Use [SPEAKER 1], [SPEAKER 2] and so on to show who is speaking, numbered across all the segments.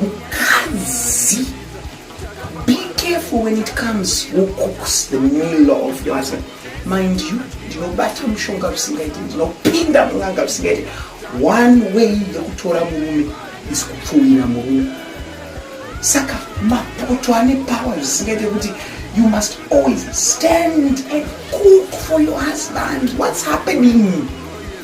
[SPEAKER 1] Mukadzi, be careful when it comes who cooks the meal of your husband. Mind you, ndinobata mushonga zvisingaiti, ndinopinda mun'anga zvisingaiti. One way yekutora murume is kupfuwira murume. Saka mapoto ane power zvisingaite kuti you must always stand and cook for your husband. What's happening?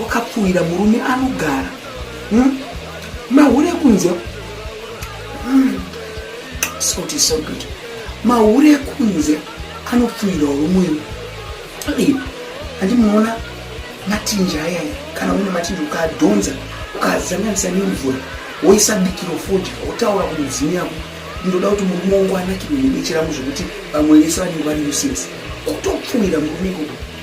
[SPEAKER 1] wakapfuhira murume anogara hmm? mahure kunze hmm. salt is so good mahure kunze anopfuhirawo vamwewo andi munoona matinja ayaya kana une matinja ukadhonza ukazanganisa nemvura woisa bikiro fodya wotaura kumudzimu yako ndoda kuti murume wangu anakirwe nebechera muzvekuti vamwe vese vanenge vari uses kutopfuhira murume ikoko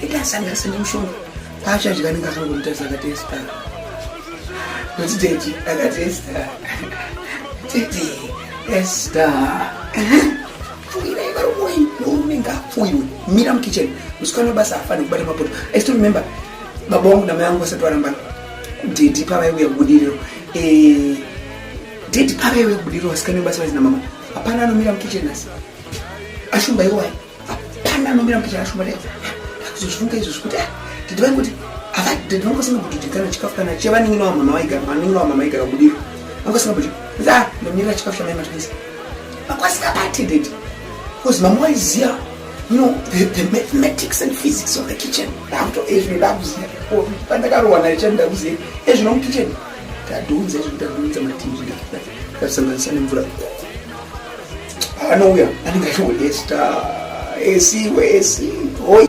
[SPEAKER 1] Tete asanga sene mshoni. Pacha jika ninga kama kumtesa kati esta. Kuti tete akati esta. Tete esta. Fuira ikaro mwe ndume nga fuyu. Mira mu kitchen. Musikana basa afana kubata mapoto. I still remember baba wangu na mayangu wasatu warambana. Tete pava iwe budiro. Eh Tete pava iwe budiro wasikana basa wazina mama. Hapana anomira mu kitchen asi. Ashumba iwaye. Hapana anomira kuti chakashoma dai. Kuzozvifunga izvo zvekuti ah didi vangu kuti ava didi vangu asina kuti didi kana chikafu kana chevanenge nawa mama vaigara vanenge nawa mama vaigara kudiro. Vangu asina kuti za nomira chikafu chamai matwisi. Vakwasika pati didi. Because mama waiziya you know the, the mathematics and physics of the kitchen. Ndakuto ezvino ndakuziya. Oh, pandakarowa naye chani ndakuziya. Ezvino mu kitchen. Tadunza ezvino tadunza matinji ndakuta. Ndakusanganisa nemvura. anouya anenge achingoti esta esi wesi hoi